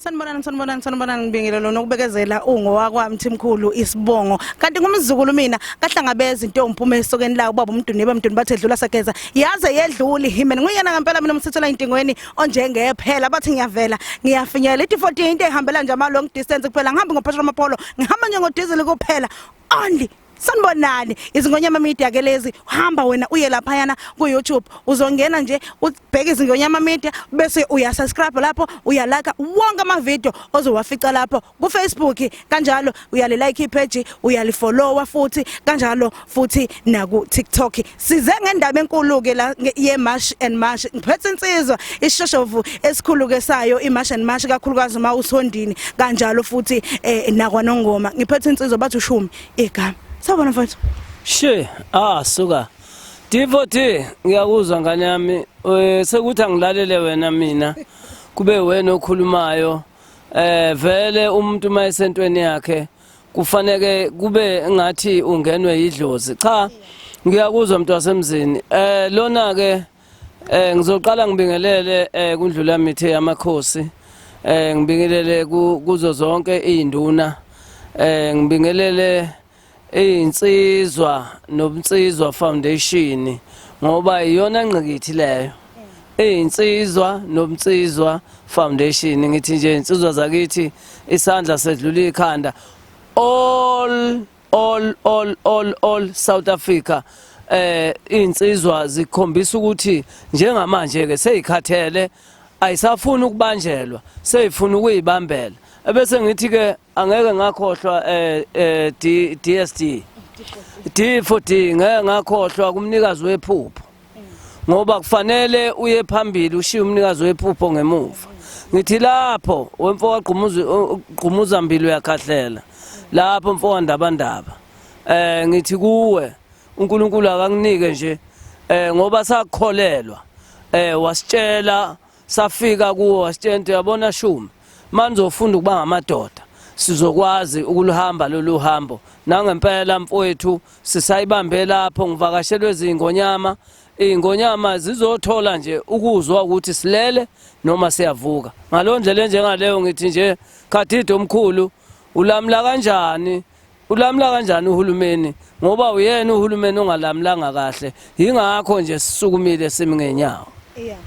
Sanibonani sanibonani sanibonani ngibingile lona ukubekezela ungowakwami Thimkhulu isibongo kanti ngumzukulu mina kahlangabeza into engiphuma esokeni la ubaba umduni baba umduni bathe dlula sageza yaze yedluli himen nguyena ngempela mina umsithela intingweni onjengephela bathi ngiyavela ngiyafinyela ithi 14 into ehambela nje ama long distance kuphela ngihambi ngophesheya amapolo ngihamba nje ngo diesel kuphela only sanibonani izingonyama media ke lezi hamba wena uye laphayana ku YouTube uzongena nje ubheke izingonyama media bese uya subscribe lapho uya like wonke ama video ozowafica lapho ku Facebook kanjalo uya le like page uya li follow futhi kanjalo futhi naku TikTok size ngendaba enkulu ke la ye march and march ngiphethe insizwa ishoshovu esikhulu ke sayo i march and march kakhulukazi uma usondini kanjalo futhi eh, nakwa nongoma ngiphethe insizwa bathi ushumi igama sabona mfowethu she ah suka Divoti ngiyakuzwa ngane yami eh, sekuthi angilalele wena mina kube wena okhulumayo eh vele umuntu mayesentweni yakhe kufaneke kube ngathi ungenwe yidlozi cha ngiyakuzwa mntu wasemzini eh lona ke eh ngizoqala ngibingelele eh kundlula mithe yamakhosi eh ngibingelele kuzo zonke izinduna eh ngibingelele izinsizwa nobunsizwa foundation ngoba iyona ngqikithi leyo iyinsizwa nomnsizwa foundation ngithi nje insizwa zakithi isandla sedlula ikhanda all all all all all South Africa eh insizwa zikhombisa ukuthi njengamanje ke seyikhathele ayisafuni ukubanjelwa seyifuna ukuyibambela ebese ngithi ke angeke ngakhohlwa eh, eh DSD D for D ngeke ngakhohlwa kumnikazi wephupho ngoba kufanele uye phambili ushiye umnikazi wephupho ngemuva ngithi lapho wemfo wagqumuza mbili uyakhahlela lapho mfo wandabandaba eh ngithi kuwe uNkulunkulu akanginike nje eh ngoba sakholelwa eh wasitshela safika kuwo wasitshenta uyabona shumi manizofunda ukuba ngamadoda sizokwazi ukuluhamba lolu hambo nangempela mfowethu sisayibambe lapho ngivakashelwe zingonyama iy'ngonyama zizothola nje ukuzwa ukuthi silele noma siyavuka ngalo ndlela enjengaleyo ngithi nje khadide omkhulu ulamula kanjani Ulamula kanjani uhulumeni ngoba uyena uhulumeni ongalamulanga kahle yingakho nje sisukumile simi ngenyawo. Yeah.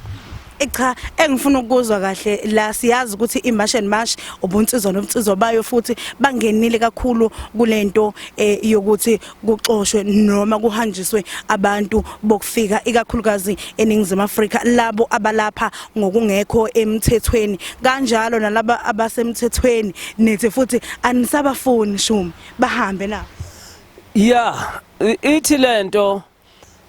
Eh, cha engifuna ukuzwa kahle la siyazi ukuthi imarch and march ubunsizwa nobunsizwa bayo futhi bangenile kakhulu kulento eh, yokuthi kuxoshwe noma kuhanjiswe abantu bokufika ikakhulukazi eningizimu Afrika labo abalapha ngokungekho emthethweni kanjalo nalaba abasemthethweni nithi futhi anisabafuni shumi bahambe na yeah ithi lento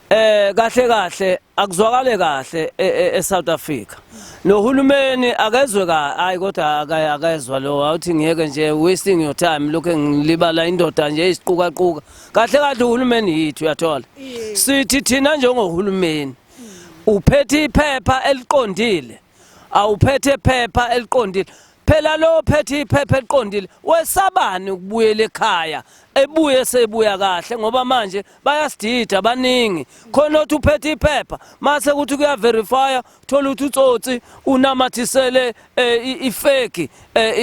eh kahle kahle akuzwakale kahle e, e, eSouth Africa nohulumeni akezwe ka hayi kodwa akezwa lo awuthi ngeke nje wasting your time lokho ngilibala indoda nje isiquka quka kahle kahle uhulumeni yithu uyathola sithi thina njengohulumeni uphethe iphepha eliqondile awuphethe iphepha eliqondile phela lo phethe iphepha eliqondile wesabani ukubuyela ekhaya ebuye sebuya kahle ngoba manje bayasidida baningi khona othi uphethe iphepha mase ukuthi kuya verify thola ukuthi utsotsi unamathisele eh, ifeki eh,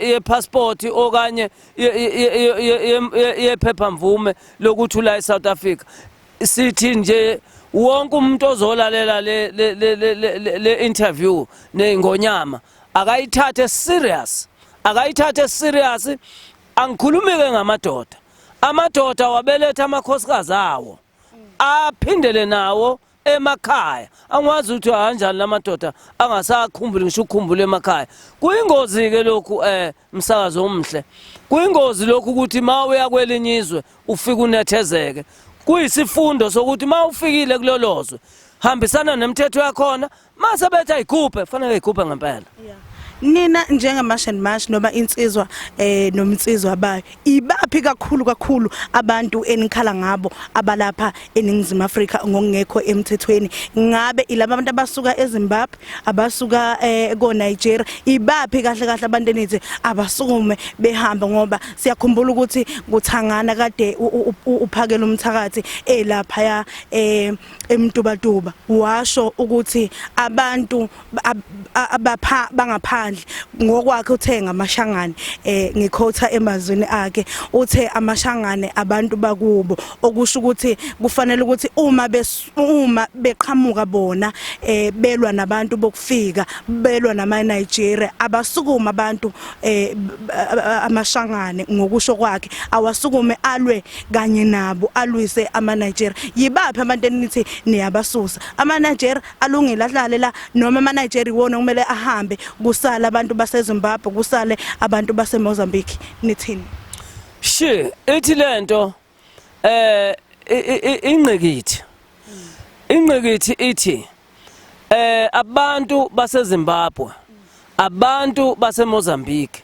ye passport okanye ye phepha mvume lokuthi ula eSouth Africa sithi nje wonke umuntu ozolalela le le le le, le interview neingonyama akayithathe serious akayithathe serious angikhulumike ngamadoda amadoda wabeletha amakhosikazi awo aphindele nawo emakhaya angikwazi ukuthi ahanjani lamadoda angasakhumbuli ngisho ukukhumbula emakhaya kuyingozi ke lokhu eh umsakazi omhle kuyingozi lokhu ukuthi ma uya kwelinye izwe ufike unethezeke kuyisifundo sokuthi ma ufikile kulolo zwe hambisana nemithetho yakhona mase bethi ayikhuphe fanele ayikhuphe ngempela nina njengamash and mash noma insizwa eh nomnsizwa bayo ibaphi kakhulu kakhulu abantu enikhala ngabo abalapha eningizimu Afrika ngokungekho emthethweni ngabe ilaba abantu abasuka eZimbabwe abasuka eh, ko Nigeria ibaphi kahle kahle abantu enithi abasukume behamba ngoba siyakhumbula ukuthi kuthangana kade uphakela umthakathi elapha ya eh, emtubatuba washo ukuthi abantu abapha bangaphandle ngokwakhe uthe ngamashangane eh ngikhotha emazwini akhe uthe amashangane abantu bakubo okusho ukuthi kufanele ukuthi uma uma beqhamuka bona eh belwa nabantu bokufika belwa nama Nigeria abasukuma abantu eh amashangane ngokusho kwakhe awasukume alwe kanye nabo alwise ama Nigeria yibaphi abantu enithi niyabasusa ama Nigeria alungile ahlale la noma ama Nigeria wona kumele ahambe kusala abantu base Zimbabwe kusale abantu base Mozambique nithini she ithi lento eh ingqikithi ingqikithi ithi eh abantu base Zimbabwe abantu base Mozambique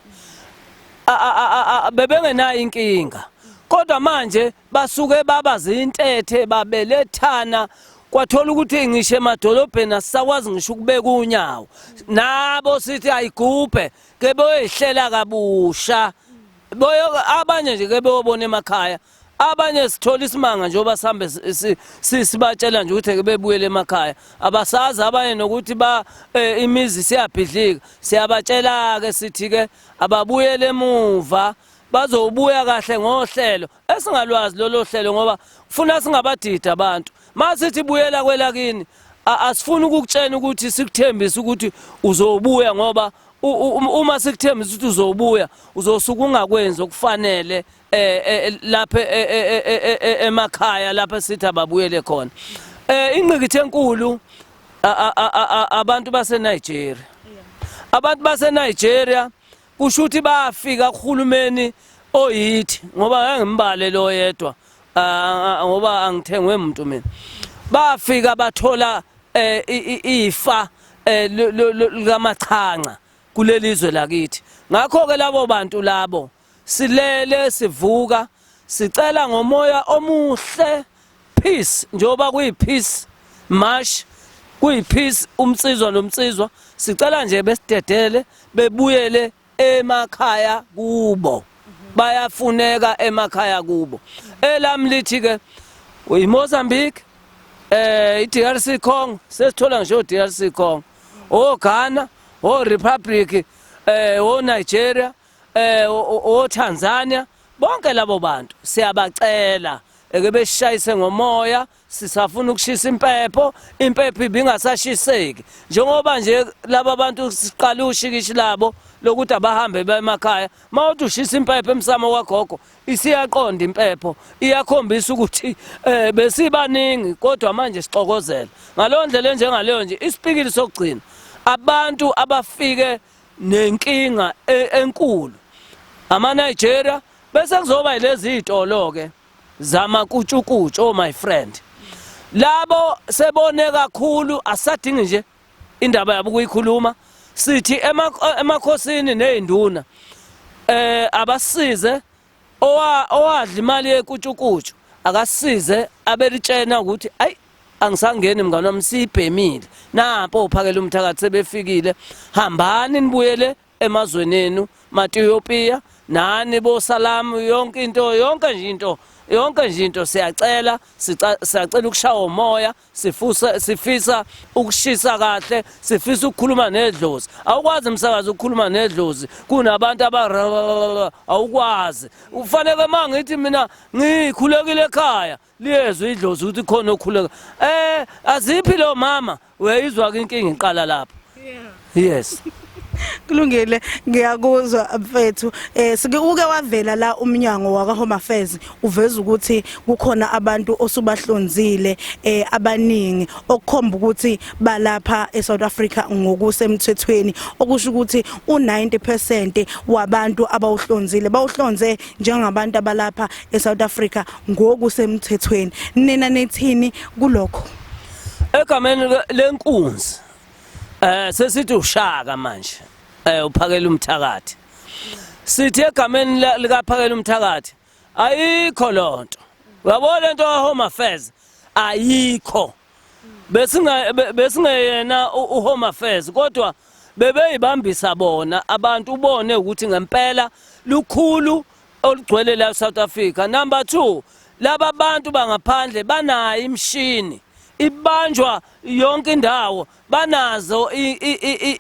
bebengenayo inkinga kodwa manje basuke baba zintethe babelethana kwathola ukuthi ngisho emadolobheni asisakwazi ngisho ukubeka unyawo nabo sithi ayigubhe ke boyehlela kabusha boyo abanye nje ke beyobona emakhaya abanye sithola isimanga njengoba sihambe sibatshela nje ukuthi ke bebuyele emakhaya abasazi abanye nokuthi ba eh, imizi siyabhidlika siyabatshela ke sithi ke ababuyele emuva bazobuya kahle ngohlelo esingalwazi lolo hlelo ngoba kufuna singabadidi abantu masithi buyela kwelakini asifuni ukukutshena ukuthi sikuthembise ukuthi uzobuya ngoba uma sikuthembisa ukuthi uzobuya uzosuka ungakwenzi okufanele eh, eh lapha eh, eh, emakhaya lapha sithi ababuyele khona eh ingqikithe enkulu abantu baseNigeria abantu baseNigeria kusho ukuthi bafika kuhulumeni oyithi ngoba ngangimbale lo yedwa ngoba angithengwe muntu mina bafika bathola eh, ifa eh, likamachanca kulelizwe lakithi ngakho ke labo bantu labo silele sivuka Sicela ngomoya omuhle peace njengoba kuyi peace march kuyi peace umsizwa nomsizwa sicela nje besidedele bebuyele emakhaya kubo bayafuneka emakhaya kubo elami lithi ke uyiMozambique eh iDRC Congo sesithola ngisho uDRC Congo oGhana oRepublic eh oNigeria eh oTanzania bonke labo bantu siyabacela eke besishayise ngomoya sisafuna ukushisa impepho impepho ibingasashiseki njengoba nje laba bantu siqala ushikishi labo lokuthi abahambe bemakhaya mawuthi ushisa impepho emsamo kwagogo isiyaqonda impepho iyakhombisa ukuthi eh besibaningi kodwa manje sixokozela ngalondlela njengaleyo nje isipikili sokugcina abantu abafike nenkinga e, enkulu ama Nigeria bese kuzoba lezi zitolo ke zama kutshukutshu oh my friend labo sebone kakhulu asadingi nje indaba yabo kuyikhuluma sithi emakhosini nezinduna eh abasize owa owadla imali yekutshukutshu akasize abelitshena ukuthi ayi angisangeni mngane wami siyibhemile nampo uphakela umthakathi sebefikile hambani nibuyele emazweni enu matiyopiya nani bosalamu yonke into yonke nje into yonke nje into siyacela siyacela ukushawa umoya sifusa sifisa ukushisa kahle sifisa ukukhuluma nedlozi awukwazi umsakazi ukukhuluma nedlozi kunabantu aba awukwazi ufanele mangithi mina ngikhulekile ekhaya liyezwe idlozi ukuthi khona okhuleka eh aziphi lo mama uyayizwa ke inkinga iqala lapho yes kulungile ngiyakuzwa mfethu eh sike uke wavela la umnyango waka Home Affairs uveza ukuthi kukhona abantu osubahlonzile eh abaningi okukhomba ukuthi balapha eSouth Africa ngokusemthethweni okusho ukuthi u90% wabantu abawuhlonzile bawuhlonze njengabantu abalapha eSouth Africa ngokusemthethweni nina nethini kulokho egameni lenkunzi Eh sesithi ushaka manje. Eh uphakela umthakathi. Sithi egameni likaphakela umthakathi ayikho lonto. Uyabona into ka Home Affairs ayikho. Besinga besingeyena u Home Affairs kodwa bebeyibambisa bona abantu ubone ukuthi ngempela lukhulu olugcwele la South Africa. Number 2 laba bantu bangaphandle banayo imshini ibanjwa yonke indawo banazo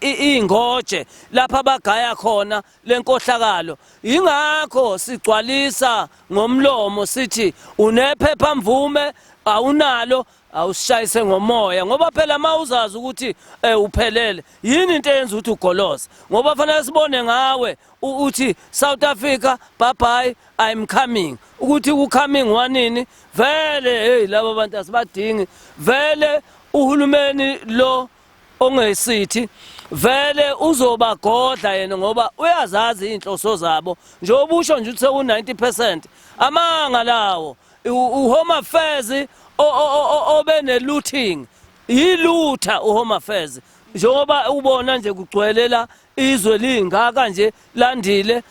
iy'ngoje lapha bagaya khona le nkohlakalo yingakho sigcwalisa ngomlomo sithi unephepha mvume awunalo awusishayise ngomoya ngoba phela uma uzazi ukuthi um uphelele yini into eyenza ukuthi ugoloze ngoba fanele sibone ngawe uthi South Africa bye bye I'm coming ukuthi u coming wanini vele hey laba bantu asibadingi vele uhulumeni lo ongesithi vele uzobagodla yena ngoba uyazazi izinhloso zabo njengoba usho nje ukuthi seku90% amanga lawo uhome affairs obe ne looting yilutha uhome affairs njengoba ubona nje kugcwelela Izwe lingaka nje landile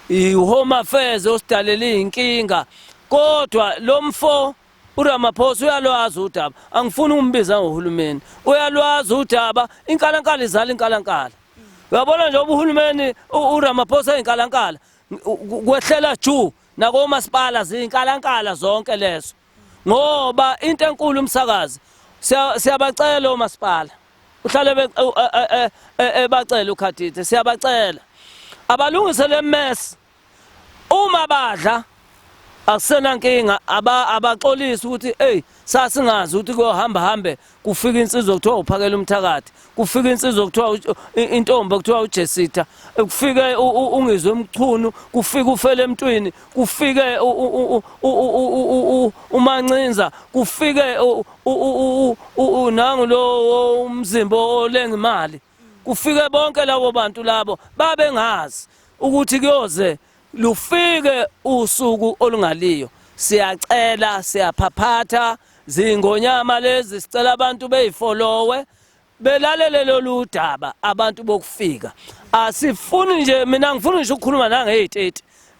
iHome Affairs osidalele inkinga kodwa lomfo uRamaphosa uyalwazi udaba angifuni umbiza ngohulumeni uyalwazi udaba inkalankala izala inkalankala uyabona nje ubuhulumeni uRamaphosa inkalankala kwehlela juu nakomasipala ziyinkalankala zonke lezo ngoba into enkulu umsakazi siyabacela omasipala uhlale ebacela ukhadide siyabacela abalungise le mess uma badla akusenankinga abaxolisi ukuthi eyi sasingazi ukuthi kuyohamba hambe kufika insizwa kuthiwa uphakela umthakathi kufika insizwa kuthiwa intombi kuthiwa ujesita kufike ungizwe umchunu kufika ufele emntwini kufike umancinza kufike nangu lo umzimba olenga imali kufike bonke labo bantu labo babengazi ukuthi kuyoze lufike usuku olungaliyo siyacela siyaphaphatha zingonyama lezi sicela abantu beyifolowe belalele lolu daba abantu bokufika asifuni nje mina ngifuna nje ukukhuluma nangeyi-30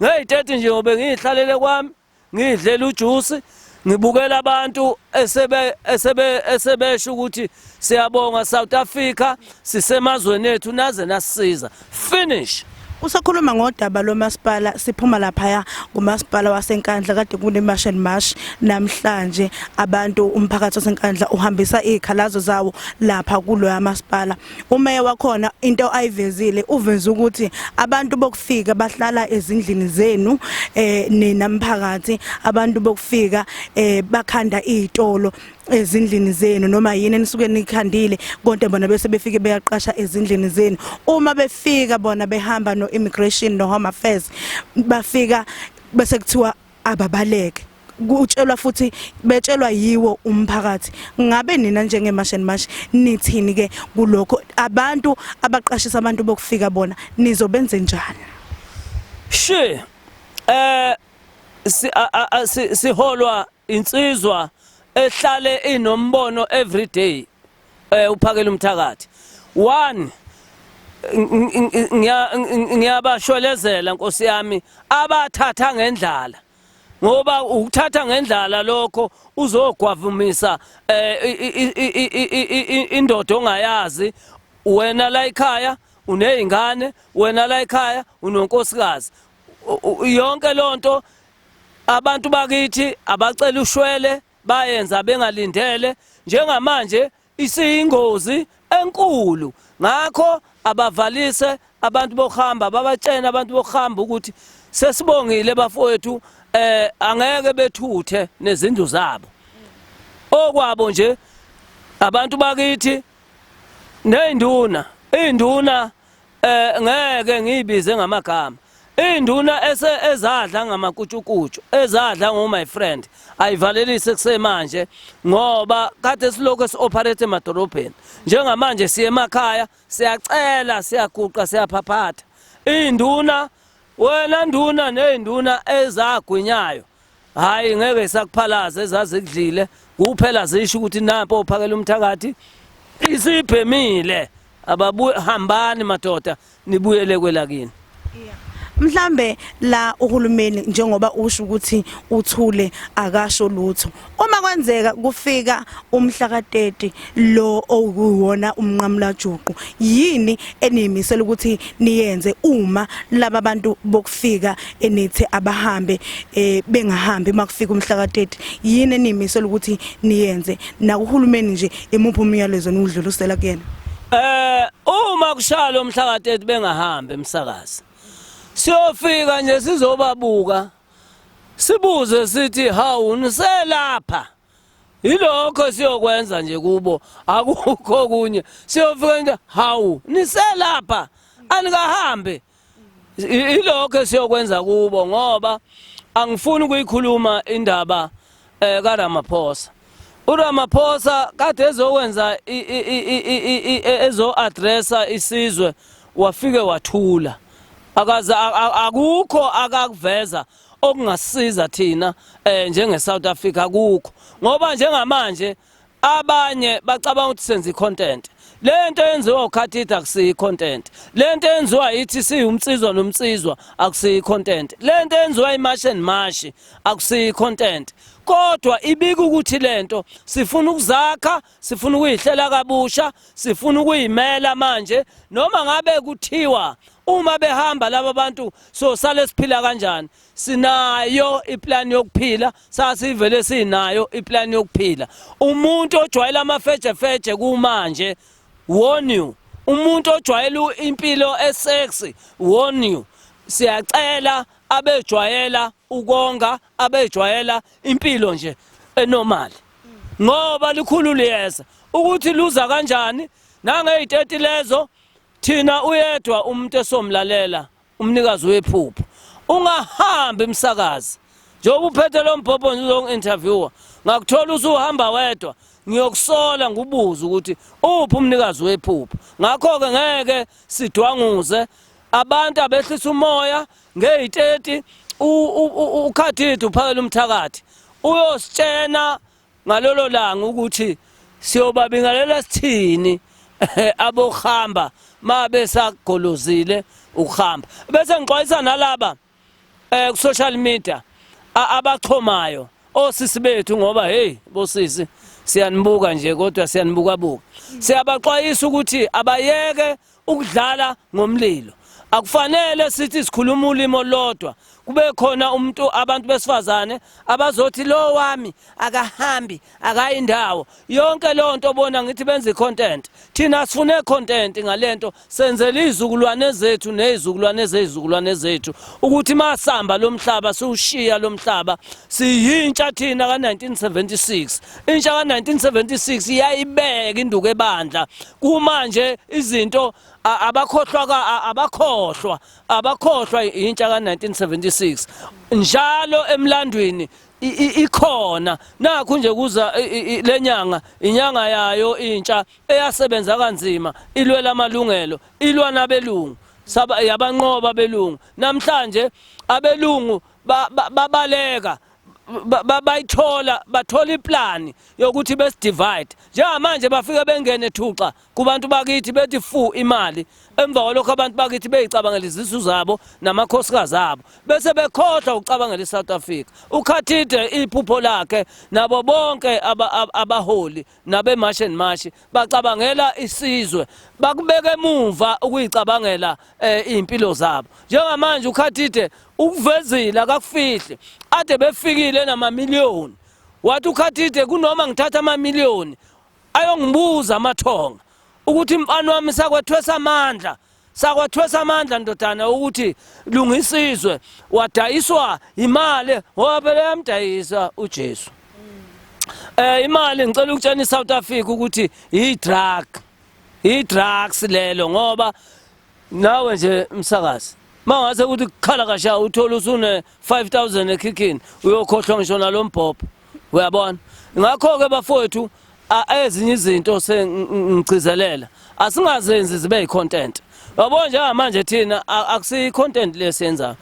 ngeyi-30 nje ngobe ngiyihlalele kwami ngidlela ujuice ngibukela abantu esebe esebe esebesho ukuthi siyabonga South Africa sisemazweni ethu naze nasisiza finish Usakhuluma ngodaba lomasipala siphuma laphaya kumasipala waseNkandla kade kune march and march namhlanje abantu umphakathi waseNkandla uhambisa izikhalazo zawo lapha kuloya masipala umeya wakhona into ayivezile uveze ukuthi abantu bokufika bahlala ezindlini zenu eh nina mphakathi abantu bokufika eh bakhanda izitolo ezindlini zenu noma yini enisuke nikhandile konke bona bese befike beyaqasha ezindlini zenu uma befika bona behamba no immigration no home affairs bafika bese kuthiwa ababaleke kutshelwa futhi betshelwa yiwo umphakathi ngabe nina njengeMash and Mash nithini ke kulokho abantu abaqashisa abantu bokufika bona nizobenze njani she eh siholwa insizwa ehlale inombono everyday eh uphakela umthakathi one ngiyabashwelezela nkosi yami abathatha ngendlala ngoba ukuthatha ngendlala lokho uzogwavumisa eh, indoda ongayazi wena la ekhaya unezingane wena la ekhaya unonkosikazi yonke lonto abantu bakithi abacela ushwele bayenza bengalindele njengamanje isiyingozi enkulu ngakho abavalise abantu bokuhamba babatshene abantu bokuhamba ukuthi sesibongile bafowethu eh angeke bethuthe nezindlu zabo okwabo nje abantu bakithi neyinduna induna eh ngeke ngiyibize ngamagama induna ese ezadla ngamakutshukutshu ezadla ngo my friend ayivalelise kusemanje ngoba kade silokho sioperate emadolobheni njengamanje siye emakhaya siyacela siyaguqa siyaphaphatha induna wena nduna nezinduna ezagwinyayo hayi ngeke isakuphalaza ezazi kudlile kuphela zisho ukuthi nampo ophakela umthakathi isibhemile ababuye hambani madoda nibuyele kwelakini mhlambe la uhulumeni njengoba usho ukuthi uthule akasho lutho uma kwenzeka kufika umhla ka30 lo owuwona umnqamulajuqu yini eniyimisela ukuthi niyenze uma laba bantu bokufika enithi abahambe eh, bengahambi makufika umhla ka-30 yini eniyimisela ukuthi niyenze nakuhulumeni nje imuphi umyalezo niwudlulisela kuyena eh uma kushalo umhla ka-30 bengahambi emsakazi siyofika nje sizobabuka sibuze sithi hawu niselapha yilokho siyokwenza nje kubo akukho okunye siyofika into hawu niselapha anikahambe yilokho esiyokwenza kubo ngoba angifuni ukuyikhuluma indaba eh kaRamaphosa uRamaphosa kade ezokwenza ezo addressa isizwe wafike wathula akaze akukho akakuveza okungasiza thina eh njenge South Africa kukho ngoba njengamanje abanye bacabanga ukuthi senza icontent lento yenziwa ukhathitha akusiyi content lento yenziwa ithi siwumsizwa nomsizwa akusiyi content lento yenziwa imash and mash akusiyi content kodwa ibika ukuthi lento sifuna ukuzakha sifuna ukuyihlela kabusha sifuna ukuyimela manje noma ngabe kuthiwa uma behamba laba bantu so sale siphila kanjani sinayo iplan yokuphila sasivele sinayo iplan yokuphila umuntu ojwayela amafejefeje kumanje warn you umuntu ojwayela impilo esexy warn you siyacela abejwayela ukonga abejwayela impilo nje enormal ngoba likhulu liyeza ukuthi luza kanjani nangeyiteti lezo thina uyedwa umuntu esomlalela umnikazi wephupho ungahambi umsakazi njengoba uphethe lo mbhobho nje uzongi-interviewer ngakuthola usuhamba wedwa ngiyokusola ngubuza ukuthi uphi umnikazi wephupho ngakho-ke ngeke sidwanguze abantu abehlisa umoya Ngeyi-30 uKhathithi uphakela umthakathi uyositshena ngalolo langa ukuthi siyobabingelela sithini abohamba mabe sagolozile ukuhamba bese ngixwayisa nalaba eh ku social media abaxhomayo osisi bethu ngoba hey bosisi siyanibuka nje kodwa siyanibuka buka siyabaxwayisa ukuthi abayeke Ukudlala ngomlilo akufanele sithi sikhuluma ulimo lodwa kube khona umuntu abantu besifazane abazothi lo wami akahambi akayi ndawo yonke leyo nto bona ngithi benza i-content thina sifune content ngalento senzele izizukulwane zethu nezizukulwane zezizukulwane zethu ukuthi masamba lomhlaba siwushiya lomhlaba siyintsha thina ka 1976 Intsha ka-1976 iyayibeka induku ebandla kumanje izinto abakhohlwa abakhohlwa abakhohlwa intsha ka-1976 njalo emlandweni ikhona nakho nje kuza lenyanga inyanga yayo intsha eyasebenza kanzima ilwela amalungelo ilwa nabelungu yabanqoba belungu namhlanje abelungu babaleka bayithola bathola iplani yokuthi besidivide njengamanje bafike bengene thuxa kubantu bakithi bethi fu imali emva kwalokho abantu bakithi beyicabangela izisu zabo namakhosikazi abo bese bekhohlwa ukucabangela isouth africa ukhathide iphupho lakhe nabo bonke abaholi nabeMarch and March bacabangela isizwe bakubeka emuva ukuyicabangela eh, impilo zabo njengamanje ukhathide ukuvezile akakufihle ade befikile nama million wathi ukhathide kunoma ngithatha ama million ayongibuza amathonga ukuthi mfana wami sakwethwesa amandla sakwathwesa amandla ndodana ukuthi lungisizwe wadayiswa imali ngoba phela yamdayisa uJesu eh imali ngicela ukutshena iSouth Africa ukuthi idrug idrugs lelo ngoba nawe nje msakazi mawase ukuthi kukhala kasha uthola usune 5000 ekhikhini uyokhohlwa ngisho nalombhobho uyabona ngakho ke bafowethu ezinye izinto sengigcizelela asingazenzi zibe yicontent yabo njengamanje thina akusiyi content lesenza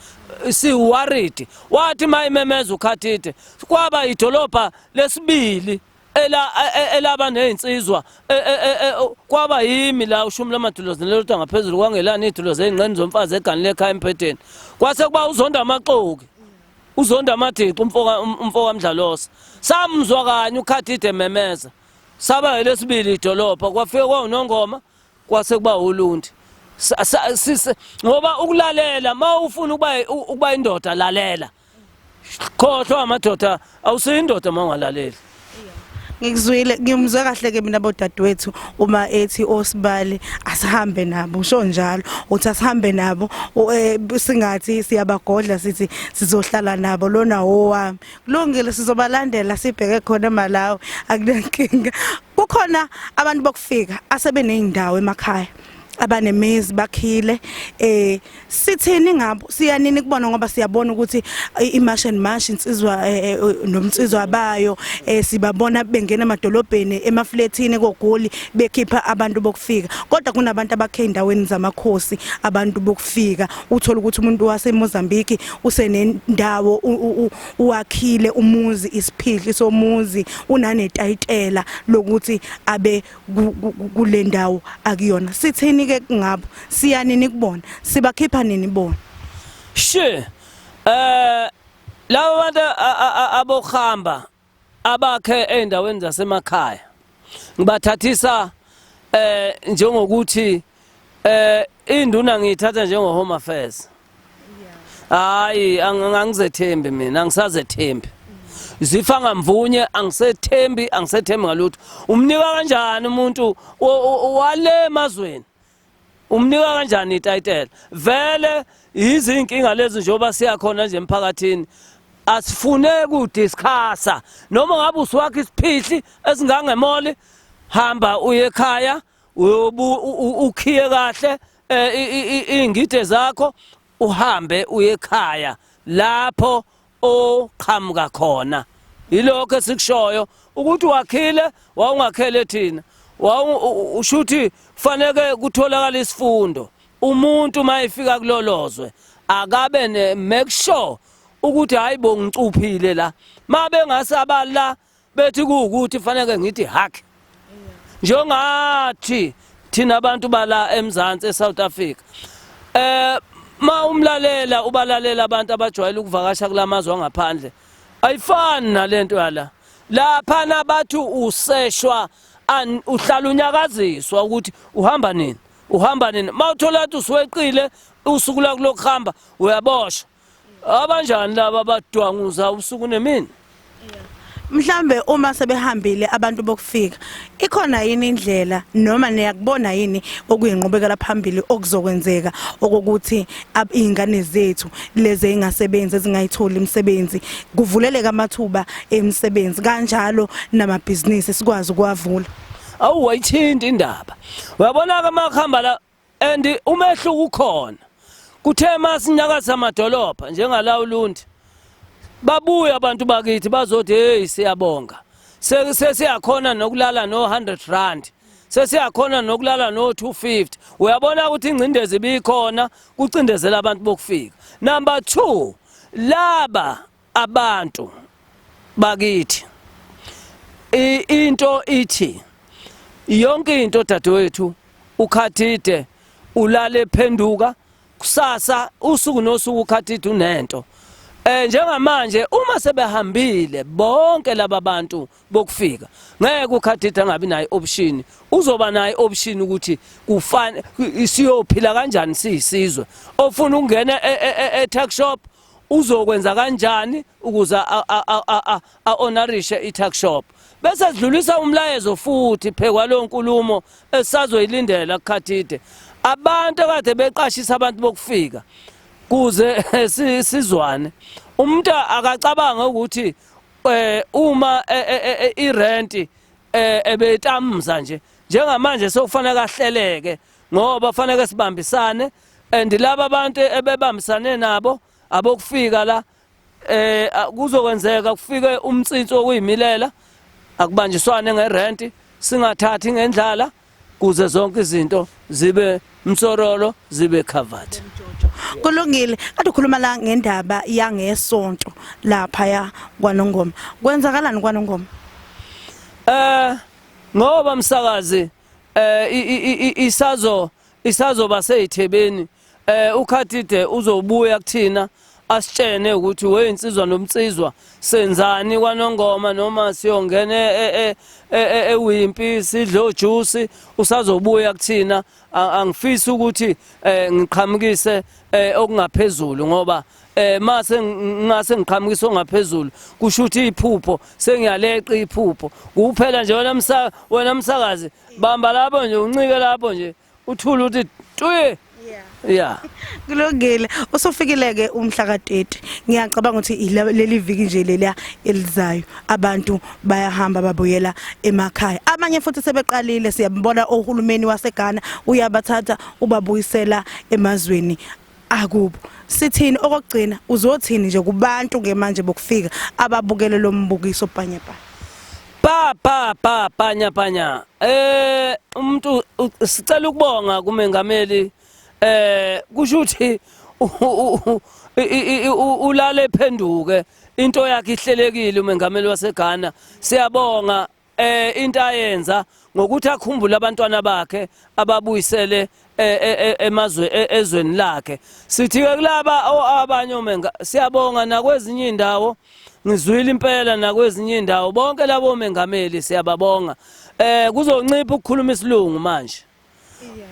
si worried wathi mayimemeza ukhathide kwaba idolobha lesibili ela e, e, elaba nezinsizwa e, kwaba yimi la ushumi lamadulozi nelota ngaphezulu kwangelani idulozi ezingqeni zomfazi egani lekhaya empheteni kwase kuba uzonda amaxoki uzonda amadixi umfoka um, umfoka mdlalosa samzwa kanye ukhathide memeza saba elesibili idolopha kwafika kwawunongoma kwase kuba ulundi ngoba ukulalela uma ufuna ukuba indoda lalela khohlwa amadoda awusiyindoda uma ungalaleli ngikuzwile ngimzwe kahle ke mina bodadewethu uma ethi osibali asihambe nabo usho njalo uthi asihambe nabo eh, singathi siyabagodla sithi sizohlala nabo lona owami kulungile sizobalandela sibheke khona emalawi akunankinga kukhona abantu bokufika asebeneyindawo emakhaya abanemizi bakhile eh sithini ngabo siyanini kubona ngoba siyabona ukuthi imash and mash insizwa eh, eh, eh, nomnsizwa bayo sibabona bengena emadolobheni emafletini kogoli bekhipha abantu bokufika kodwa kunabantu abakhe endaweni zamakhosi abantu bokufika uthola ukuthi umuntu wase Mozambique usenendawo uwakhile umuzi isiphihli somuzi unanetayitela lokuthi abe kule ndawo akuyona sithini ke ngabo siyanini kubona sibakhipha nini bona she eh laba bantu abohamba abakhe endaweni zasemakhaya ngibathathisa eh njengokuthi Eh induna ngiyithatha njengo home affairs. Hayi angangizethembi mina angisazethembi. Zifa ngamvunye angisethembi angisethembi ngalutho. Umnika kanjani umuntu wale emazweni? Umnika kanjani ititle? Vele izinkinga lezi njengoba siyakhona nje emphakathini asifune kudiscussa noma ngabe usiwakhe isiphihli esingangemoli hamba uye ekhaya ukhiye kahle eh, iy'ngide zakho uhambe uye ekhaya lapho oqhamuka khona yilokho esikushoyo ukuthi wakhile wawungakhele thina ushuthi kufaneke kutholakala isifundo umuntu uma efika kulolozwe akabe ne make sure ukuthi hayi bo ngicuphile la mabe ngasabala bethi kuwukuthi faneke ngithi hack njengathi thina abantu bala eMzansi eSouth Africa eh ma umlalela ubalalela abantu abajwayele ukuvakasha kulamazwe angaphandle ayifani nalento yala lapha nabathu useshwa uhlala unyakaziswa ukuthi uhamba nini uhamba nini mawuthola ukuthi usuweqile usuku lakulokuhamba uyaboshwa abanjani laba abadwanguza usuku nemini mhlambe uma sebehambile abantu bokufika ikhona yini indlela noma niyakubona yini okuyinqubekela phambili okuzokwenzeka okokuthi izingane zethu lezi engasebenzi ezingayitholi imisebenzi kuvuleleka amathuba emisebenzi kanjalo namabhizinisi sikwazi ukuwavula awu wayithinta indaba uyabona ke makuhamba la and umehluko ukhona kuthe masinyakaza amadolobha njengala ulundi babuye abantu bakithi bazothi hey siyabonga sesiyakhona nokulala no 100 rand sesiyakhona nokulala no 250 uyabona ukuthi ingcindezi bikhona kucindezela abantu bokufika number 2 laba abantu bakithi into ithi yonke into dadewethu ukhathide ulale phenduka kusasa usuku nosuku ukhathide unento eh njengamanje uma sebehambile bonke laba bantu bokufika ngeke ukhathide angabi nayo option uzoba nayo option ukuthi kufane siyophila kanjani siyisizwe ofuna ukungena e, e, e, e talk shop uzokwenza kanjani ukuze a-honorishe i-tuck shop bese sidlulisa umlayezo futhi phekwa leyo nkulumo esazoyilindela kukhathide abantu kade beqashisa abantu bokufika kuze sizwane umuntu akacabanga ukuthi eh uma e, e, e, irent ebetamza nje njengamanje sokufanele kahleleke ngoba kufanele sibambisane and laba bantu ebebambisane nabo abokufika la eh kuzokwenzeka kufike umtsinsi okuyimilela akubanjiswane ngerent singathathi ngendlala kuze zonke izinto zibe msorolo zibe covered kulungile kade ukhuluma la ngendaba yangesonto lapha ya kwanongoma kwenzakalani kwanongoma eh ngoba msakazi eh isazo isazoba seyithebeni eh ukhathide uzobuya kuthina asitshene ukuthi we insizwa nomnsizwa senzani kwanongoma noma siyongena e, e, e, ewimpi sidle ojuice usazobuya kuthina angifisi ukuthi eh, ngiqhamukise eh, okungaphezulu ngoba eh mase ngase ngiqhamukisa ongaphezulu kusho ukuthi iphupho sengiyaleqa iphupho kuphela nje wena msa wena msakazi bamba lapho nje uncike lapho nje uthula uthi tuye yeah kulungile usufikile ke umhla ka30 ngiyacabanga ukuthi leli viki nje leliya elizayo abantu bayahamba babuyela emakhaya abanye futhi sebeqalile siyabona ohulumeni waseGhana uyabathatha ubabuyisela emazweni akubo sithini okugcina uzothini nje kubantu ke manje bokufika ababukele lo mbukiso panye panye pa pa pa panya panya eh umuntu sicela ukubonga kumengameli eh kusho ukuthi ulale phenduke into yakhe ihlelekile umengameli waseGhana siyabonga eh into ayenza ngokuthi akhumbule abantwana bakhe ababuyisele eh, eh, eh, emazwe ezweni lakhe sithi ke kulaba abanye omenga siyabonga nakwezinye indawo ngizwile impela nakwezinye indawo bonke labo mengameli siyababonga eh kuzoncipha ukukhuluma isilungu manje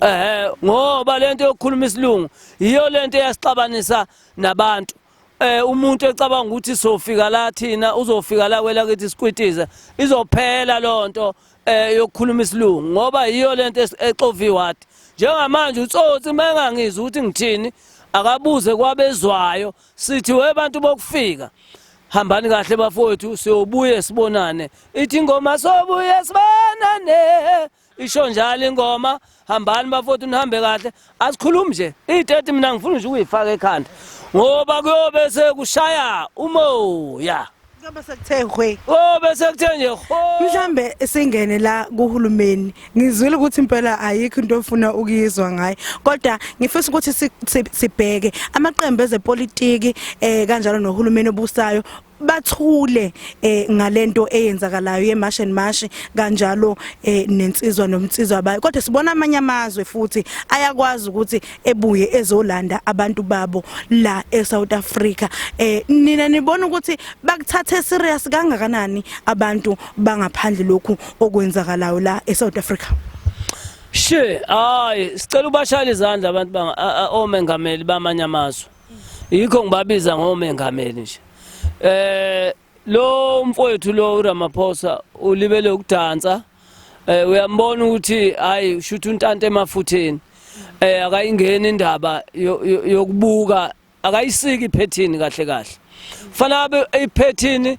eh ngoba lento yokukhuluma isilungu yiyo lento eyasixabanisa nabantu eh umuntu ecabanga ukuthi sofika la thina uzofika la kwela kithi sikwitize izophela lonto eh yokukhuluma isilungu ngoba yiyo lento exovi ward njengamanje utsotsi mangangizwa ukuthi ngithini akabuze kwabezwayo sithi we bantu bokufika hambani kahle bafowethu siyobuye sibonane ithi ingoma sobuye sibonane isho njalo ingoma hambani bafowethu nihambe kahle asikhulumi nje iy'teti mina ngifuna nje ukuyifaka ekhanda ngoba kuyobe sekushaya umoya kuyobe sekuthe hwe o bese kuthe nje ho mhlambe singene la kuhulumeni ngizwile ukuthi impela ayikho into ofuna ukuyizwa ngayo kodwa ngifisa ukuthi si- si- sibheke amaqembu ezepolitiki eh kanjalo nohulumeni obusayo bathule eh ngalento eyenzakalayo yemarsh and marsh kanjalo eh nensizwa nomnsizwa abayo kodwa sibona amanye amazwe futhi ayakwazi ukuthi ebuye ezolanda abantu babo la eSouth Africa eh nina nibona ukuthi bakuthathe serious kangakanani abantu bangaphandle lokhu okwenzakalayo la eSouth Africa She hayi sicela ubashayele izandla abantu banga omengameli bamanye amazwe yikho ngibabiza ngomengameli nje eh lo mfowethu lo uRamaphosa ulibele ukudansa eh uyambona ukuthi hayi ushutha untanta emafutheni eh akayingeni indaba yokubuka akayisiki iphethini kahle kahle fanele iphethini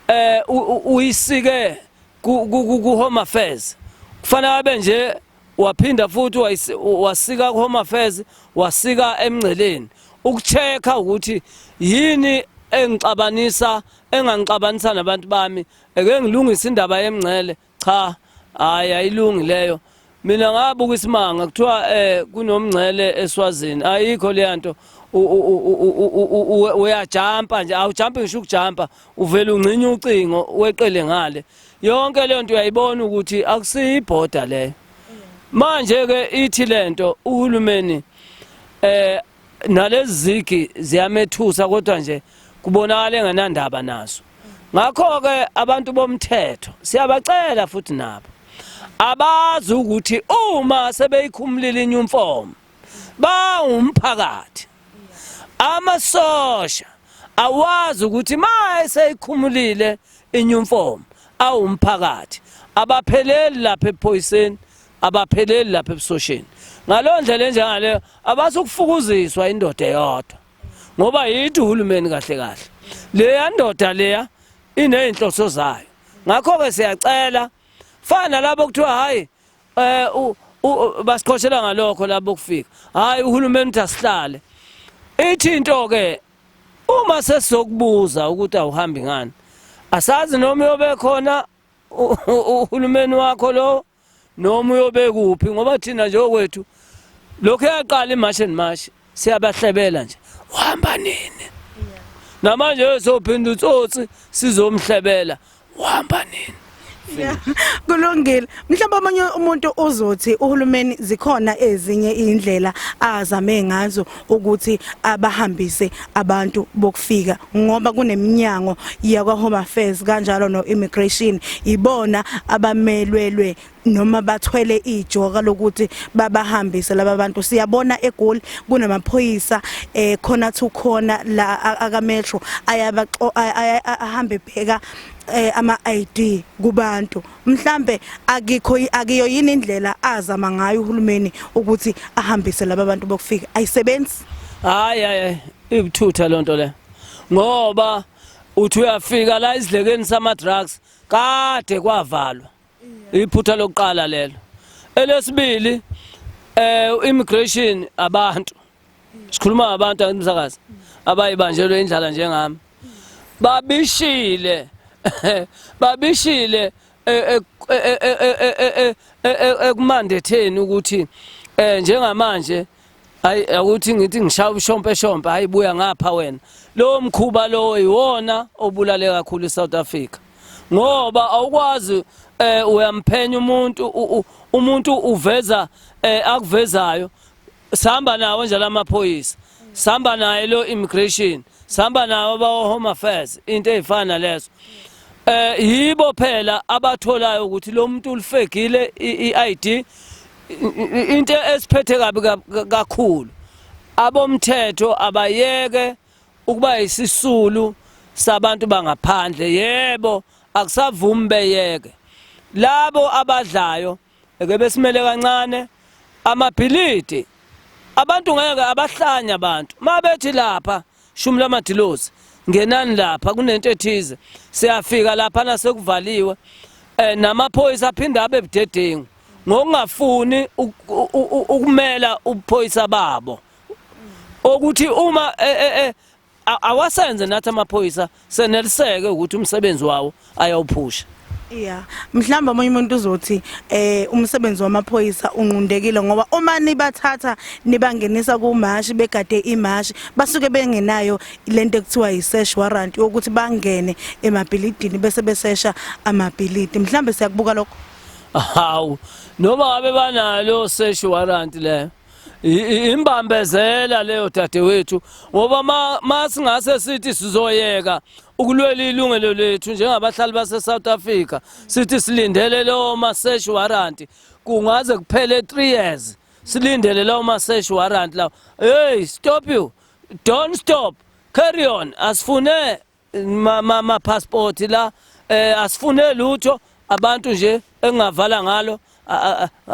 eh uyisike ku home affairs kufanele abe nje waphinda futhi wasika ku-home affairs wasika emngceleni ukucheck-a ukuthi yini engixabanisa engangixabanisa nabantu bami eke ngilungise indaba yemngcele cha hayi ayilungi leyo mina ngabuka isimanga kuthiwa eh kunomngcele eswazini ayikho leya nto uyajampa nje awujampi ngisho ukujampa uvele ungcinye ucingo weqele ngale yonke lento uyayibona ukuthi akusiyi border le manje ke ithi lento uhulumeni eh nalezi zigi ziyamethusa kodwa nje kubonakala engenandaba naso ngakho ke abantu bomthetho siyabacela futhi nabo abazi ukuthi uma sebeyikhumulile inyumfomo bawumphakathi Amasosha awazi ukuthi ma eseyikhumulile inyumfomu awumphakathi abapheleli lapha ephoyiseni abapheleli lapha ebusosheni ngaleyo ndlela enjengaleyo abasukufukuziswa indoda eyodwa ngoba yithi uhulumeni kahle kahle leya ndoda leya inezinhloso zayo ngakho ke siyacela fana labo kuthiwa hayi Eh u basiqoshela ngalokho labo kufika. Hayi uhulumeni uthi asihlale. Ithi into ke uma sesizokubuza ukuthi awuhambi ngani. Asazi noma uyobe khona uhulumeni wakho lo noma uyobe kuphi ngoba thina nje okwethu lokho yaqala imash and mash siyabahlebela nje uhamba nini namanje ezophinda utsotsi sizomhlebela uhamba nini kulungile mhlawumbe omunye umuntu uzothi uhulumeni zikhona ezinye indlela azame ngazo ukuthi abahambise abantu bokufika ngoba kuneminyango yakwa Home Affairs kanjalo no Immigration ibona abamelwelwe noma bathwele ijoka lokuthi babahambise laba bantu siyabona egoli kunamaphoyisa eh khona thu khona la aka metro ayaba ahambe bheka eh, ama ID kubantu mhlambe akikho akiyo yini indlela azama ngayo uhulumeni ukuthi ahambise laba bantu bokufika ayisebenzi hayi hayi ibuthutha lonto le ngoba uthi uyafika la isidlekeni sama drugs kade kwavalwa iphutha lokuqala lelo elesibili eh immigration abantu sikhuluma ngabantu akumsakazi abayibanjelwe indlala njengami babishile babishile ekumandetheni ukuthi eh njengamanje hayi akuthi ngithi ngishaya ushompe shompe hayi buya ngapha wena lowo mkhuba lowo iwona obulale kakhulu iSouth Africa ngoba awukwazi eh uyamphenya umuntu umuntu uveza eh akuvezayo sihamba nawo nje lamaphoyisa sihamba naye lo immigration sihamba nawo bawo home affairs into ezifana lezo eh yibo phela abatholayo ukuthi lo muntu ulifegile iID into esiphethe kabi kakhulu abomthetho abayeke ukuba yisisulu sabantu bangaphandle yebo akusavumi beyeke labo abadlayo eke besimele kancane amabhilidi abantu ngeke abahlanya abantu mabethi lapha Shumi lamadilozi ngenani lapha kunento ethize siyafika lapha nasekuvaliwe eh namaphoyisa aphinda abe budedengu ngokungafuni ukumela ubuphoyisa babo okuthi uma eh, eh, eh, awasenze nathi amaphoyisa seneliseke ukuthi umsebenzi wawo ayawuphusha Yeah. Mhlamba omunye umuntu uzothi eh umsebenzi wamaphoyisa unqundekile ngoba uma nibathatha nibangenisa kumashi begade imashi basuke bengenayo lento ekuthiwa yisesh warrant ukuthi bangene emabhilidini bese besesha amabhilidi. Mhlambe siyakubuka lokho. Hawu noma abe banalo sesh warrant le. imbambezela leyo dadewethu ngoba ma singase sithi sizoyeka ukulwela ilungelo lethu njengabahlali base-south africa sithi silindele leyo ma-search warrant kungaze kuphele three years silindele lawo ma-search warrant lawo hey stop you don't stop carry on asifune ma passport la eh asifune lutho abantu nje engavala ngalo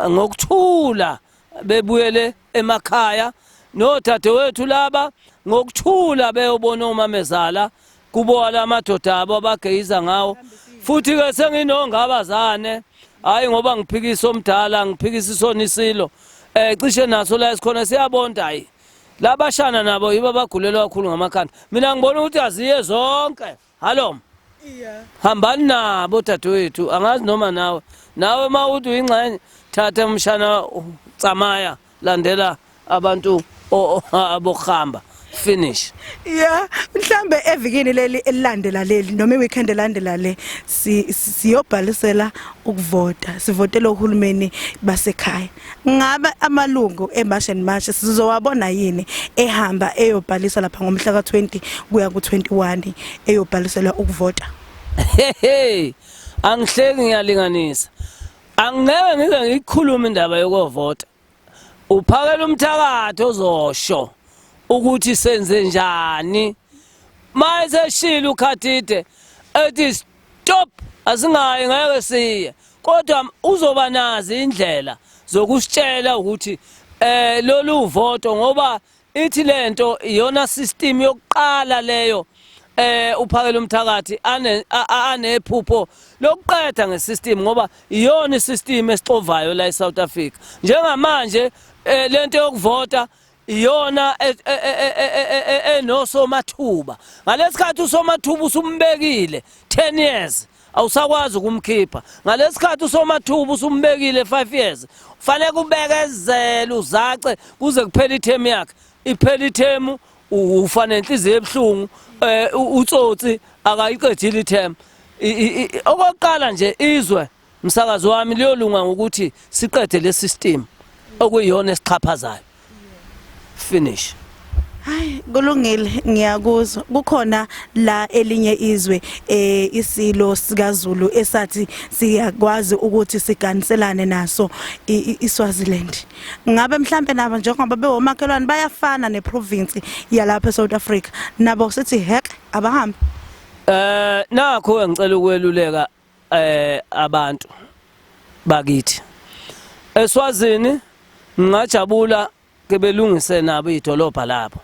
ngokuthula bebuyele emakhaya nodadewethu laba ngokuthula beyobona omamezala kubo alamadoda abo abageyiza ngawo futhi ke senginongabazane hayi ngoba ngiphikisa omdala ngiphikisa isonisilo eh cishe naso la esikhona siyabonda hayi labashana nabo yibo abagulelwa kakhulu ngamakhanda mina ngibona ukuthi aziye zonke halom yeah. hambani nabo dadewethu angazi noma nawe nawe uma uthi uyingxenye thatha umshana tsamaya landela abantu abokuhamba finish yeah mhlambe evikini leli elilandela leli noma iweekend elandela le siyobhalisela ukuvota sivotela uhulumeni basekhaya ngabe amalungu eMash and Mash sizowabona yini ehamba eyobhaliswa lapha ngomhla ka-20 kuya ku-21 eyobhaliselwa ukuvota hehe angihleki ngiyalinganisa angeke ngize ngikhulume indaba yokovota uphakela umthakathi ozosho ukuthi senze njani maye seshilo ukhathide ethi Top asingayi ngeke siye kodwa uzoba nazi indlela zokusitshela ukuthi eh lolu voto ngoba ithi lento iyona system yokuqala leyo eh uphakela umthakathi ane anephupho lokuqeda ngesystem ngoba iyona isystem esixovayo la eSouth Africa njengamanje eh, lento yokuvota iyona e, e, e, enosomathuba ngalesikhathi usomathuba usumbekile 10 years awusakwazi ukumkhipha ngalesikhathi usomathuba usumbekile 5 years fanele kubekezele uzace kuze kuphele ithemu yakhe iphele ithemu ufa nenhliziyo ebuhlungu eh, utsotsi akayiqedile ithemu okokuqala nje izwe Msakazi wami liyolunga ngokuthi siqede le system okuyiyona esixhaphazayo. Finish. Hayi kulungile ngiyakuzwa kukhona la elinye izwe eh isilo sikaZulu esathi siyakwazi ukuthi siganiselane naso iSwaziland ngabe mhlambe nabo njengoba bewomakhelwane bayafana neprovince yalapha eSouth Africa nabo sithi hek abahambe eh nakho engicela ukweluleka eh abantu bakithi eswazini ngingajabula ke belungise nabo idolobha labo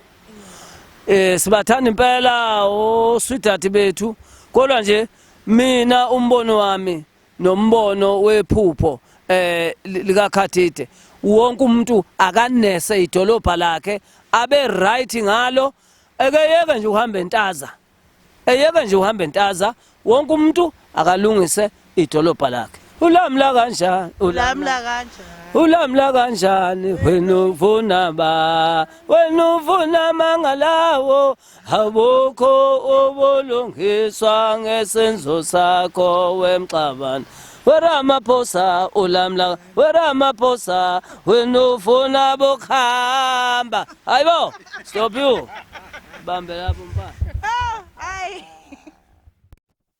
eh sibathanda impela oswidati bethu kodwa nje mina umbono wami nombono wephupho eh likakhathide wonke umuntu akanese idolobha lakhe abe right ngalo ekeyeke nje uhamba entaza eyeke nje uhambe ntaza wonke umuntu akalungise idolobha lakhe ulamla kanjani ulamla kanjani ulamla kanjani wena uvuna ba wena uvuna mangalawo abukho ubulungiswa ngesenzo sakho wemxabana weramaphosa ulamla weramaphosa wena ufuna bokuhamba hayi bo stop you bambe lapho mfana